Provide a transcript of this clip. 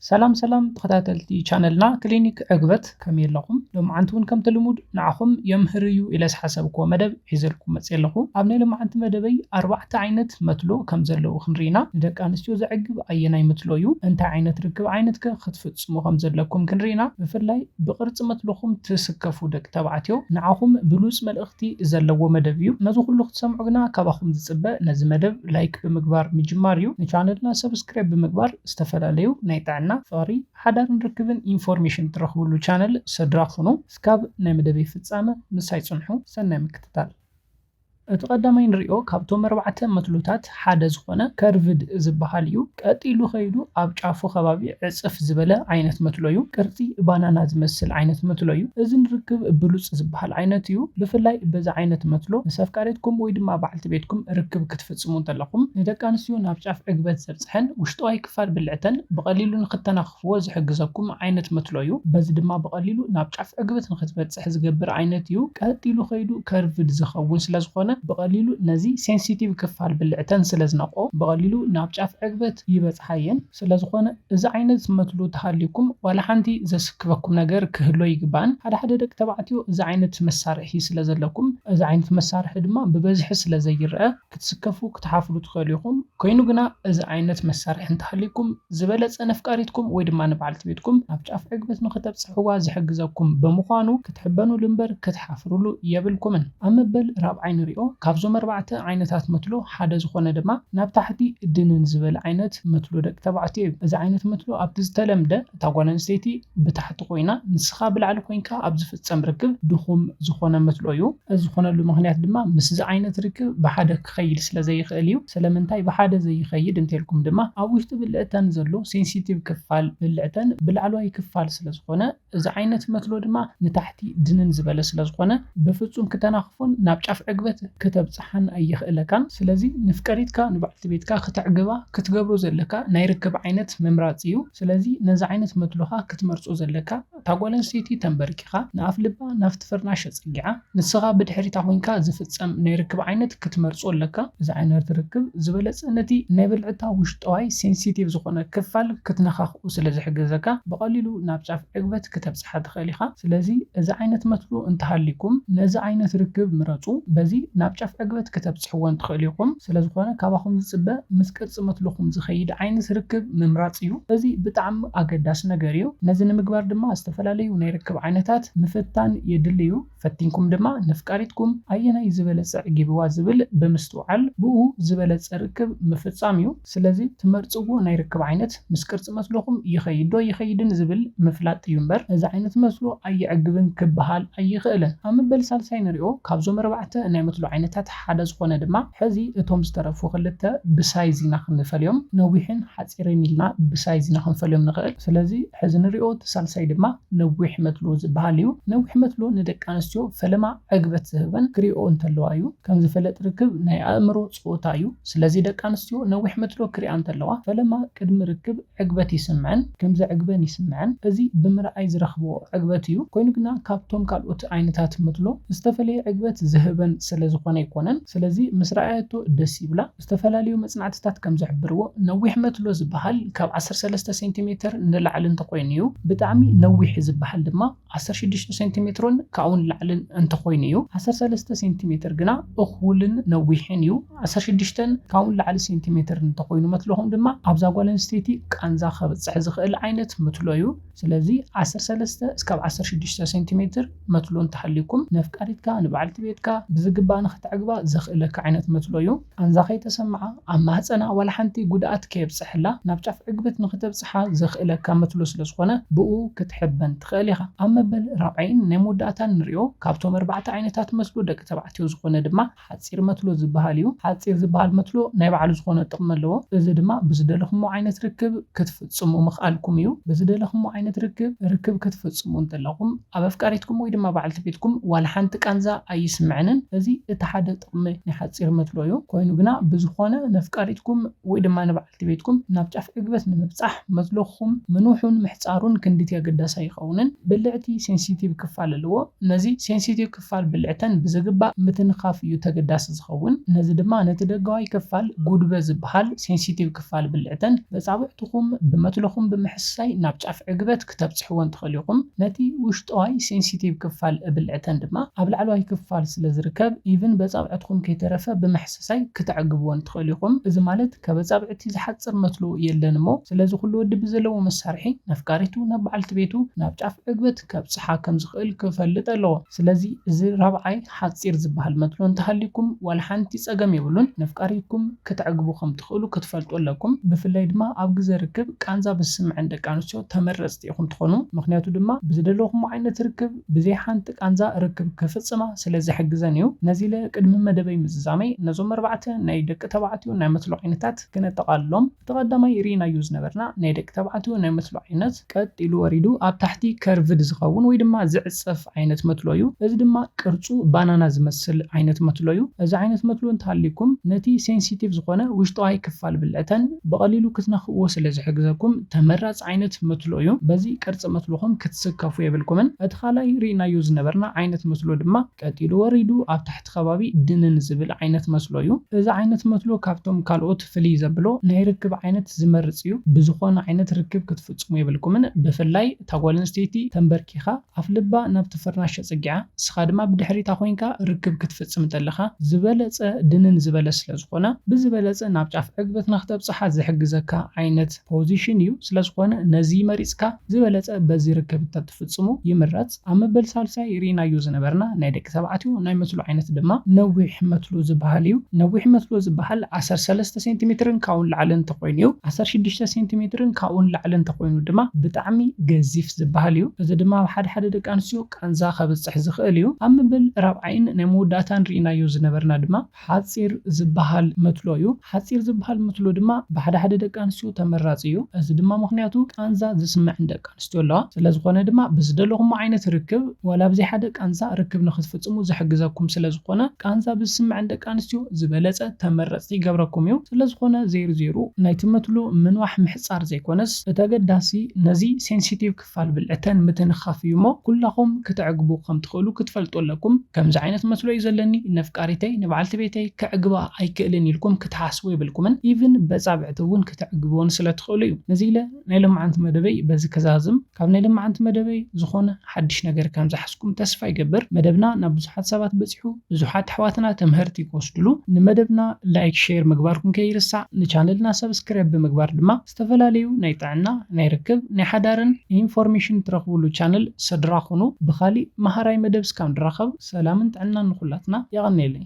ሰላም ሰላም ተኸታተልቲ ቻነልና ክሊኒክ ዕግበት ከመይ ኣለኹም? ሎምዓንቲ እውን ከምቲ ልሙድ ንዓኹም የምህር እዩ ኢለ ዝሓሰብክዎ መደብ ሒዘልኩም መፂኤ ኣለኹ። ኣብ ናይ ሎምዓንቲ መደበይ ኣርባዕተ ዓይነት መትሎ ከምዘለዉ ክንሪኢ ኢና። ንደቂ ኣንስትዮ ዘዕግብ ኣየናይ መትሎ እዩ? እንታይ ዓይነት ርክብ ዓይነት ከ ክትፍፅሙ ከምዘለኩም ክንሪኢ ኢና። ብፍላይ ብቅርፂ መትልኹም ትስከፉ ደቂ ተባዕትዮ ንዓኹም ብሉፅ መልእኽቲ ዘለዎ መደብ እዩ። ነዚ ኩሉ ክትሰምዑ ግና ካባኹም ዝፅበ ነዚ መደብ ላይክ ብምግባር ምጅማር እዩ። ንቻነልና ሰብስክራይብ ብምግባር ዝተፈላለዩ ናይ ጥዕና፣ ፍቕሪ፣ ሓዳርን ርክብን ኢንፎርሜሽን ትረኽብሉ ቻነል ሰድራ ኩኑ። እስካብ ናይ መደበይ ፍጻመ ምሳይ ጽንሑ። ሰናይ ምክትታል። እቲ ቀዳማይ ንሪኦ ካብቶም ኣርባዕተ መትሎታት ሓደ ዝኾነ ከርቭድ ዝበሃል እዩ። ቀጥ ኢሉ ከይዱ ኣብ ጫፉ ከባቢ ዕጽፍ ዝበለ ዓይነት መትሎ እዩ። ቅርጺ ባናና ዝመስል ዓይነት መትሎ እዩ። እዚ ንርክብ ብሉጽ ዝበሃል ዓይነት እዩ። ብፍላይ በዚ ዓይነት መትሎ ምስ ኣፍቃሪትኩም ወይ ድማ በዓልቲ ቤትኩም ርክብ ክትፍጽሙ እንተለኹም ንደቂ ኣንስትዮ ናብ ጫፍ ዕግበት ዘብጽሕ፣ ሰተሐን ውሽጠዋይ ክፋል ብልዕተን ብቐሊሉ ንክተናኽፍዎ ዝሕግዘኩም ዓይነት መትሎ ዩ። በዚ ድማ ብቐሊሉ ናብ ጫፍ ዕግበት ንክትበፅሕ ዝገብር ዓይነት ዩ። ቀጢሉ ከይዱ ከርቭድ ዝኸውን ስለዝኾነ ብቐሊሉ ነዚ ሴንሲቲቭ ክፋል ብልዕተን ስለዝነቕኦ ብቐሊሉ ናብ ጫፍ ዕግበት ይበፅሓ የን። ስለዝኾነ እዚ ዓይነት መትሎ ተሃልዩኩም ዋላ ሓንቲ ዘስክፈኩም ነገር ክህሉ ኣይግባእን። ሓደ ሓደ ደቂ ተባዕትዮ እዚ ዓይነት መሳርሒ ስለዘለኩም እዚ ዓይነት መሳርሒ ድማ ብበዝሒ ስለዘይረኣ ክትስከፉ ክትሓፍሩ ትኸእሉ ኢኹም፣ ኮይኑ ግና እዚ ዓይነት መሳርሒ እንተሃልዩኩም ዝበለጸ ነፍቃሪትኩም ወይ ድማ ንበዓልቲ ቤትኩም ናብ ጫፍ ዕግበት ንኸተብጽሕዋ ዝሕግዘኩም ብምዃኑ ክትሕበኑሉ እምበር ክትሓፍሩሉ የብልኩምን። ኣብ መበል ራብዓይ ንሪኦ፣ ካብዞም ኣርባዕተ ዓይነታት መትሎ ሓደ ዝኾነ ድማ ናብ ታሕቲ ድንን ዝበለ ዓይነት መትሎ ደቂ ተባዕትዮ እዩ። እዚ ዓይነት መትሎ ኣብቲ ዝተለምደ። እታ ጓል ኣንስተይቲ ብታሕቲ ኮይና ንስኻ ብላዕሊ ኮይንካ ኣብ ዝፍጸም ርክብ ድኹም ዝኾነ መትሎ እዩ። እዚ ዝኾነሉ ምኽንያት ድማ ምስዚ ዓይነት ርክብ ብሓደ ክኸይድ ስለ ዘይኽእል እዩ። ስለምንታይ ብሓደ ዘይኸይድ እንተልኩም ድማ ኣብ ውሽጢ ብልዕተን ዘሎ ሴንሲቲቭ ክፋል ብልዕተን ብላዕለዋይ ክፋል ስለ ዝኾነ እዚ ዓይነት መትሎ ድማ ንታሕቲ ድንን ዝበለ ስለ ዝኾነ ብፍጹም ክተናኽፎን ናብ ጫፍ ዕግበት ክተብጽሓን ኣየኽእለካን። ስለዚ ንፍቀሪትካ ንበዓልቲ ቤትካ ክተዕግባ ክትገብሮ ዘለካ ናይ ርክብ ዓይነት ምምራጽ እዩ። ስለዚ ነዚ ዓይነት መድሎኻ ክትመርጾ ዘለካ፣ እታ ጓል ኣንስተይቲ ተንበርኪኻ ንኣፍልባ ናብቲ ፍርናሽ ኣጸጊዓ ንስኻ ብድሕሪታ ኮይንካ ዝፍጸም ናይ ርክብ ዓይነት ክትመርጾ ኣለካ። እዚ ዓይነት ርክብ ዝበለጸ ነቲ ናይ ብልዕታ ውሽጠዋይ፣ ሴንሲቲቭ፣ ዝኾነ ክፋል ክትነኻኽኡ ስለዝሕግዘካ ብቐሊሉ ናብ ጫፍ ዕግበት ክተብጽሕ። ክትፍታሕ ትኽእል ኢኻ። ስለዚ እዚ ዓይነት መትሎ እንተሃልይኩም ነዚ ዓይነት ርክብ ምረጹ። በዚ ናብ ጫፍ ዕግበት ክተብጽሕዎን ትኽእሉ ኢኹም። ስለዝኾነ ካባኹም ዝጽበ ምስ ቅርጺ መትሎኹም ዝኸይድ ዓይነት ርክብ ምምራጽ እዩ። እዚ ብጣዕሚ ኣገዳሲ ነገር እዩ። ነዚ ንምግባር ድማ ዝተፈላለዩ ናይ ርክብ ዓይነታት ምፍታን የድሊ እዩ። ፈቲንኩም ድማ ነፍቃሪትኩም ኣየናይ ዝበለጸ ኣዕጊብዋ ዝብል ብምስትውዓል ብኡ ዝበለጸ ርክብ ምፍጻም እዩ። ስለዚ ትመርጽዎ ናይ ርክብ ዓይነት ምስ ቅርጺ መስሎኹም ይኸይድ ዶ ኣይኸይድን ዝብል ምፍላጥ እዩ እምበር እዚ ዓይነት መስሎ ኣየዕግብን ክበሃል ኣይኸእልን። ኣብ መበል ሳልሳይ ንሪኦ። ካብዞም ኣርባዕተ ናይ መትሎ ዓይነታት ሓደ ዝኾነ ድማ ሕዚ እቶም ዝተረፉ ክልተ ብሳይዝ ኢና ክንፈልዮም። ነዊሕን ሓጺርን ኢልና ብሳይዝ ኢና ክንፈልዮም ንኸእል። ስለዚ ሕዚ ንሪኦ እቲ ሳልሳይ ድማ። ነዊሕ መትሎ ዝበሃል እዩ። ነዊሕ መትሎ ንደቂ ኣንስትዮ ፈለማ ዕግበት ዝህበን ክሪእኦ እንተለዋ እዩ። ከምዝፈለጥ ርክብ ናይ ኣእምሮ ጸወታ እዩ። ስለዚ ደቂ ኣንስትዮ ነዊሕ መትሎ ክሪኣ እንተለዋ ፈለማ ቅድሚ ርክብ ዕግበት ይስምዐን ከምዘዕግበን ይስምዐን። እዚ ብምርኣይ ዝረኽብኦ ዕግበት እዩ። ኮይኑ ግና ካብቶም ካልኦት ዓይነታት መትሎ ዝተፈለየ ዕግበት ዝህበን ስለዝኾነ ኣይኮነን። ስለዚ ምስ ረኣየቶ ደስ ይብላ። ዝተፈላለዩ መፅናዕትታት ከም ዝሕብርዎ ነዊሕ መትሎ ዝበሃል ካብ ዓሰርተ ሰለስተ ሴንቲሜትር ንላዕሊ እንተኾይኑ እዩ። ብጣዕሚ ነዊሕ ዝበሃል ድማ ዓሰርተ ሽዱሽተ ሴንቲሜትሮን ካብኡ ንላዕልን እንተኾይኑ እዩ። ዓሰርተ ሰለስተ ሴንቲሜትር ግና እኹልን ነዊሕን እዩ። ዓሰርተ ሽዱሽተን ካብኡ ንላዕሊ ሴንቲሜትር እንተኾይኑ መትሎኹም ድማ ኣብዛ ጓል ኣንስተይቲ ቃንዛ ከብፅሕ ዝኽእል ዓይነት መትሎ እዩ። ስለዚ ዓሰርተ ሰለስተ እስካብ ዓሰርተ ሽዱሽተ ሴንቲ ሜትር መትሎ እንተሃልዩኩም ነፍቃሪትካ ንበዓልቲ ቤትካ ብዝግባእ ንክተዕግባ ዘኽእለካ ዓይነት መትሎ እዩ። ቃንዛ ከይተሰምዓ ኣብ ማህጸና ዋላ ሓንቲ ጉድኣት ከየብጸሐላ ናብ ጫፍ ዕግበት ንክተብጽሓ ዘኽእለካ መትሎ ስለዝኾነ ብእኡ ክትሕበን ትኽእል ኢኻ። ኣብ መበል ራብዓይን ናይ መወዳእታን ንሪኦ ካብቶም ኣርባዕተ ዓይነታት መትሎ ደቂ ተባዕትዮ ዝኾነ ድማ ሓጺር መትሎ ዝበሃል እዩ። ሓጺር ዝበሃል መትሎ ናይ ባዕሉ ዝኾነ ጥቕሚ ኣለዎ። እዚ ድማ ብዝደለኹሞ ዓይነት ርክብ ክትፍጽሙ ምኽኣልኩም እዩ። ብዝደለኹሞ ዓይነት ርክብ ርክብ ክትፍጽሙ እንተለኹም ኣብ ኣፍቃሪትኩም ወይ ድማ በዓልቲ ቤትኩም ዋላ ሓንቲ ቃንዛ ኣይስምዐንን። እዚ እቲ ሓደ ጥቕሚ ናይ ሓጺር መትሎ እዩ። ኮይኑ ግና ብዝኾነ ነፍቃሪትኩም ወይ ድማ ንበዓልቲ። እቲ ቤትኩም ናብ ጫፍ ዕግበት ንምብጻሕ መትሎኹም ምንውሑን ምሕጻሩን ክንድቲ ኣገዳሲ ኣይኸውንን። ብልዕቲ ሴንሲቲቭ ክፋል ኣለዎ። ነዚ ሴንሲቲቭ ክፋል ብልዕተን ብዝግባእ ምትንኻፍ እዩ ተገዳሲ ዝኸውን። ነዚ ድማ ነቲ ደጋዋይ ክፋል ጉድበ ዝበሃል ሴንሲቲቭ ክፋል ብልዕተን በጻብዕትኹም ብመትሎኹም ብምሕሳይ ናብ ጫፍ ዕግበት ክተብጽሕወን ትኽእሉ ኢኹም። ነቲ ውሽጠዋይ ሴንሲቲቭ ክፋል ብልዕተን ድማ ኣብ ላዕለዋይ ክፋል ስለ ዝርከብ ኢቭን በጻብዕትኹም ከይተረፈ ብማሕሰሳይ ክተዕግብወን ትኽእሉ ኢኹም። እዚ ማለት ከበጻብዕቲ ዝሓጽር መትሎ የለን እሞ ስለዚ ኩሉ ወዲ ብዘለዎ መሳርሒ ነፍቃሪቱ ናብ በዓልቲ ቤቱ ናብ ጫፍ ዕግበት ከብጽሓ ከም ዝኽእል ክፈልጥ ኣለዎ። ስለዚ እዚ ራብዓይ ሓጺር ዝበሃል መትሎ እንተሃልዩኩም ዋላ ሓንቲ ጸገም የብሉን ነፍቃሪኩም ክተዕግቡ ከም ትኽእሉ ክትፈልጡ ኣለኩም ብፍላይ ድማ ኣብ ግዘ ርክብ ቃንዛ ብዝስመዐን ደቂ ኣንስትዮ ተመረጽቲ ኢኹም ትኾኑ ምኽንያቱ ድማ ብዝደለኹሞ ዓይነት ርክብ ብዘይ ሓንቲ ቃንዛ ርክብ ክፍጽማ ስለ ዝሕግዘን እዩ ነዚለ ቅድሚ መደበይ ምዝዛመይ ነዞም ኣርባዕተ ናይ ደቂ ተባዕትዮ ናይ መትሎ ዓይነታት ክነጠቓልሎም እቲ ቀዳማይ ሪኢናዮ ዝነበርና ናይ ደቂ ተባዕትዮ ናይ መትሎ ዓይነት ቀጥ ኢሉ ወሪዱ ኣብ ታሕቲ ከርቭድ ዝኸውን ወይ ድማ ዝዕጸፍ ዓይነት መትሎ እዩ። እዚ ድማ ቅርጹ ባናና ዝመስል ዓይነት መትሎ እዩ። እዚ ዓይነት መትሎ እንተሃልዩኩም ነቲ ሴንሲቲቭ ዝኾነ ውሽጠዋይ ክፋል ብልዕተን ብቐሊሉ ክትነኽእዎ ስለ ዝሕግዘኩም ተመራጺ ዓይነት መትሎ እዩ። በዚ ቅርጺ መትሎኹም ክትስከፉ የብልኩምን። እቲ ካልኣይ ሪኢናዮ ዝነበርና ዓይነት መትሎ ድማ ቀጥ ኢሉ ወሪዱ ኣብ ኣብቲ ከባቢ ድንን ዝብል ዓይነት መስሎ እዩ። እዚ ዓይነት መስሎ ካብቶም ካልኦት ፍልይ ዘብሎ ናይ ርክብ ዓይነት ዝመርጽ እዩ። ብዝኾነ ዓይነት ርክብ ክትፍጽሙ የብልኩምን፣ ብፍላይ እታ ጓል ኣንስተይቲ ተምበርኪኻ ኣፍልባ ናብቲ ፍርናሽ ኣጸጊዓ ንስኻ ድማ ብድሕሪታ ኮይንካ ርክብ ክትፍጽም እንተለኻ ዝበለጸ ድንን ዝበለ ስለ ዝኾነ ብዝበለጸ ናብ ጫፍ ዕግበትና ክተብጽሓ ዝሕግዘካ ዓይነት ፖዚሽን እዩ። ስለዝኾነ ነዚ መሪጽካ ዝበለጸ በዚ ርክብ ፍጽሙ ይምረጽ ኣብ መበል ሳልሳይ ሪኢናዮ ዝነበርና ናይ ደቂ ተባዕትዮ ናይ መትሎ ዓይነት ድማ ነዊሕ መትሎ ዝብሃል እዩ ነዊሕ መትሎ ዝብሃል ዓሰርተ ሰለስተ ሴንቲ ሜትርን ካብኡ ንላዕሊ እንተኾይኑ እዩ ዓሰርተ ሽዱሽተ ሴንቲ ሜትርን ካብኡ ንላዕሊ እንተኾይኑ ድማ ብጣዕሚ ገዚፍ ዝብሃል እዩ እዚ ድማ ኣብ ሓደ ሓደ ደቂ ኣንስትዮ ቃንዛ ከብጽሕ ዝኽእል እዩ ኣብ መበል ራብዓይን ናይ መወዳእታን ሪኢናዮ ዝነበርና ድማ ሓጺር ዝበሃል መትሎ እዩ። ሓጺር ዝበሃል መትሎ ድማ ብሓደ ሓደ ደቂ ኣንስትዮ ተመራጺ እዩ። እዚ ድማ ምኽንያቱ ቃንዛ ዝስመዐን ደቂ ኣንስትዮ ኣለዋ። ስለዝኾነ ድማ ብዝደለኹሞ ዓይነት ርክብ ዋላ ብዘይሓደ ቃንዛ ርክብ ንኽትፍጽሙ ዝሕግዘኩም ስለዝኾነ ቃንዛ ብዝስመዐን ደቂ ኣንስትዮ ዝበለጸ ተመረጽቲ ይገብረኩም እዩ። ስለዝኾነ ዜሩ ዜሩ ናይቲ መትሎ ምንዋሕ ምሕጻር ዘይኮነስ እቲ ኣገዳሲ ነዚ Sensitive ክፋል ብልዕተን ምትንኻፍ እዩ እሞ ኩላኹም ክተዕግቡ ከም ትኽእሉ ክትፈልጡ ኣለኩም ከምዚ ዓይነት መስሎ እዩ ዘለኒ ነፍቃሪተይ ንበዓልቲ ቤተይ ከዕግባ ኣይክእልን ኢልኩም ክትሓስቡ የብልኩምን ኢቭን በጻብዕቲ እውን ክተዕግብወን ስለ ትኽእሉ እዩ ነዚ ኢለ ናይ ለማዓንቲ መደበይ በዚ ክዛዝም ካብ ናይ ለማዓንቲ መደበይ ዝኾነ ሓድሽ ነገር ከም ዝሓዝኩም ተስፋ ይገብር መደብና ናብ ብዙሓት ሰባት በጺሑ ብዙሓት ኣሕዋትና ትምሀርቲ ክወስድሉ ንመደብና ላይክ ሼር ምግባርኩም ከይርሳዕ ንቻነልና ሰብስክረብ ብምግባር ድማ ዝተፈላለዩ ናይ ጥዕና፣ ናይ ርክብ፣ ናይ ሓዳርን ኢንፎርሜሽን ትረኽብሉ ቻነል ሰድራ ኩኑ። ብኻሊእ መሃራይ መደብ እስካብ ንራኸብ ሰላምን ጥዕናን ንኹላትና። የቐንየለይ።